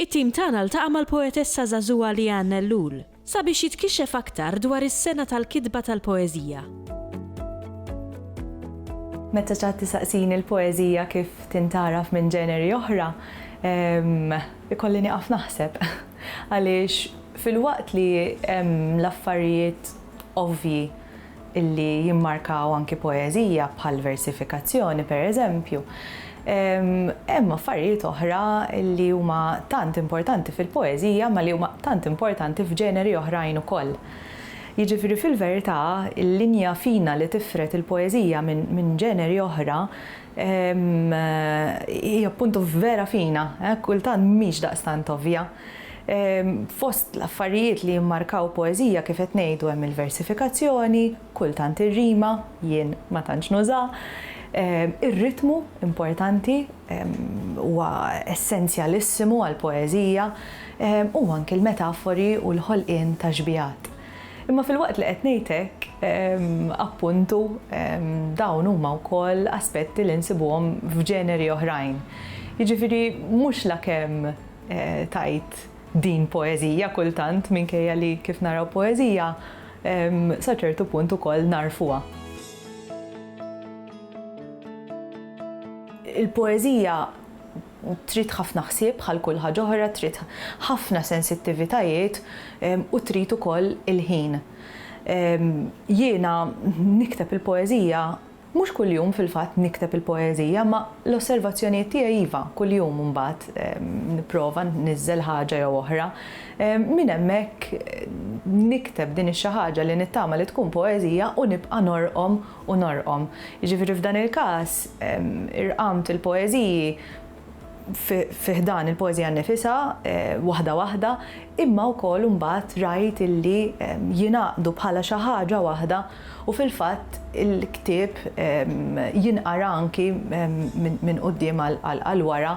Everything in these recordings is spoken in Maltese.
It-tim tagħna ltaqa' mal-poetessa żagħżugħa Leanne Ellul sabiex jitkixxef aktar dwar is-sena tal-kitba tal-poeżija. Meta ċatt isaqsini l-poeżija kif tintgħaraf minn ġeneri oħra, ikolli nieqaf naħseb. Għaliex filwaqt li hemm l-affarijiet ovvji li jimmarkaw anki poeżija bħal versifikazzjoni pereżempju, hemm affarijiet oħra li huma tant importanti fil-poeżija ma li huma tant importanti f'ġeneri oħrajn ukoll. Jiġifieri fil-verità l-linja fina li tifred il-poeżija minn ġeneri oħra Hi appuntu vera fina, kultant mhix daqstant ovvja. Fost l-affarijiet li jimmarkaw poeżija kif qed ngħidu hemm il-versifikazzjoni, kultant ir-rima, jien ma tantx nuża, ir-ritmu, importanti, huwa essenzjalissimu għall-poeżija, u anki l-metafori u l-ħolqien ta' xbiehat. Imma filwaqt li qed ngħid hekk, appuntu, dawn huma wkoll aspetti li nsibuhom f'ġeneri oħrajn. Jiġifieri mhux lakemm tgħid din poeżija kultant minkejja li kif naraw poeżija sa ċertu punt ukoll nagħrfuha. Il-poeżija Trid ħafna ħsieb bħal kull ħaġa oħra, trid ħafna sensittivitajiet u trid ukoll il-ħin. Jiena nikteb il-poeżija, mhux kuljum fil-fatt nikteb il-poeżija, imma l-osservazzjonijiet tiegħi iva, kuljum imbagħad nipprova nniżżel ħaġa jew oħra. Minn hemmhekk nikteb din ix-xi ħaġa li nittama li tkun poeżija u nibqa' norqom u norqom. Jiġifieri f'dan il-każ irqamt il-poeżiji fi ħdan il-poeżija nnifisha waħda waħda imma wkoll imbagħad rajt illi jingħaqdu bħala xi ħaġa waħda u fil-fatt il-ktieb jinqara anki minn quddiem għal wara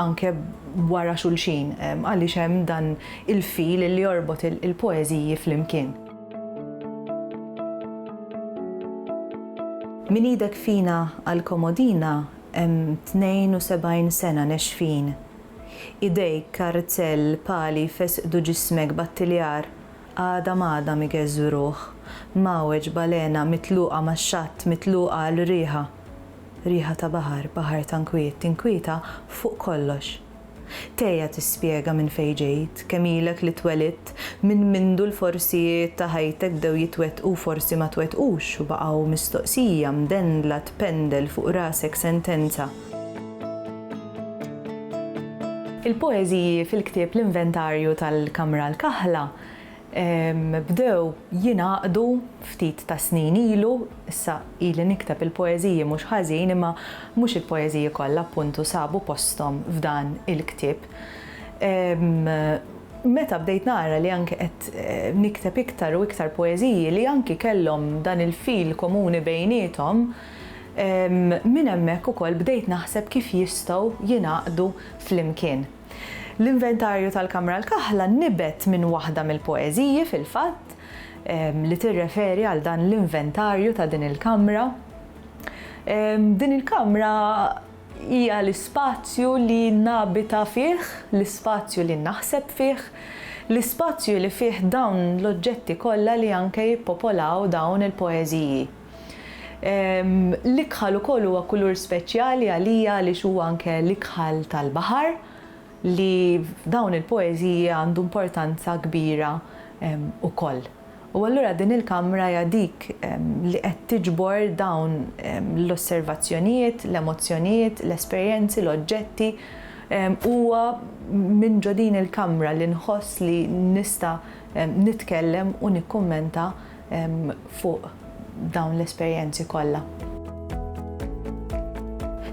anke wara xulxin għaliex hemm dan il-fil illi jorbot il-poeżiji flimkien. Minn idek fina għal komodina hemm tnejn u sebgħin sena nexfin. Idejk, kartzell, pali jfesqdu ġismek b'attiljar għada m'għada migeżżu ruħ, mgħawweġ balena mitluqa max-xatt mitluqa għal riħa. Riħa ta' baħar, baħar ta' nkwiet, tinkwieta fuq kollox. Thea tispjega minn fejn ġejt, kemm ilek li twelidt, minn mindu l-forsijiet ta' ħajtek bdew jitwettqu u forsi ma twettqux u baqgħu mistoqsija mdendla tpendel fuq rasek sentenza. Il-poeżiji fil-ktieb L-Inventarju tal-Kamra l-Kaħla Bdew jingħaqdu ftit tas-snin ilu, issa ili nikteb il-poeżiji mhux ħażin imma mhux il-poeżiji kollha appuntu sabu posthom f'dan il-ktieb. Meta bdejt nara li anki qed nikteb iktar u iktar poeżiji li anki kellhom dan il-fil komuni bejniethom, minn hemmhekk ukoll bdejt naħseb kif jistgħu jingħaqdu flimkien. L-inventarju tal-Kamra l-Kaħla nibet minn waħda mill-poeżiji, fil-fatt, li tirreferi għal dan l-inventarju ta' din il-kamra. Din il-kamra hija l-ispazju li nabita fih, l-ispazju li naħseb fih, l-ispazju li fih dawn l-oġġetti kollha li anke jippopolaw dawn il-poeżiji. L-ikħal ukoll huwa kulur speċjali għalija għaliex huwa anke l-ikħal tal-baħar li f'dawn il-poeżiji għandu importanza kbira ukoll. U allura din il-kamra hija dik li qed tiġbor dawn l-osservazzjonijiet, l-emozzjonijiet, l-esperjenzi, l-oġġetti. Huwa minn ġo din il-kamra li nħoss li nista' nitkellem u nikkummenta fuq dawn l-esperjenzi kollha.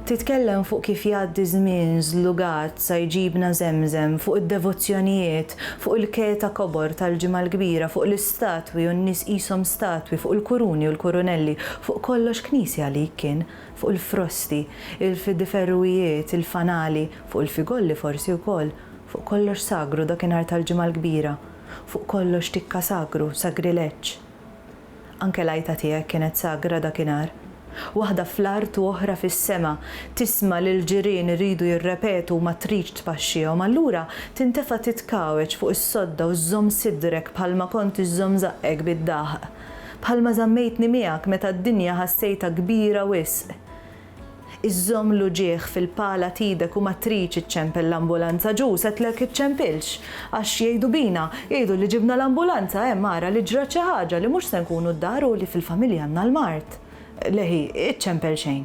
Titkellem fuq kif jgħaddi żmien żlugat sa jġibna Żemżem, fuq id-devozzjonijiet, fuq il-keta kobor tal-Ġimgħa l-Kbira, fuq l-istatwi u n-nies qishom statwi, fuq il-kuruni u l-kurunelli, fuq kollox knisja għalik kien, fuq il-frosti, il-fidiferruijiet, il-fanali, fuq il-figolli forsi wkoll, fuq kollox sagru dakinhar tal-Ġimgħa l-Kbira. Fuq kollox tikka sagru, sagrileġġ. Anke l-għajta tiegħek kienet sagra dakinhar. Waħda fl-art u oħra fis-sema, tisma' lill-ġirien iridu jirrepetu u ma tridx tpaxxihom, allura tintefa' titkawweġ fuq is-sodda u żżomm sidrek bħalma kont iżżomm żaqqek bid-daħq. Bħalma żammejtni miegħek meta d-dinja ħassejtha kbira wisq. Iżżomm l-uġigħ fil-pala t'idek u ma tridx iċċempel l-ambulanza ġus għedtlek iċċempilx. Għax jgħidu bina, jgħidu li ġibna l-ambulanza hemm ara li ġrat xi ħaġa li mhux se nkunu d-dar u li fil-familja għandna l-mard. Lehi, iċċempel xejn.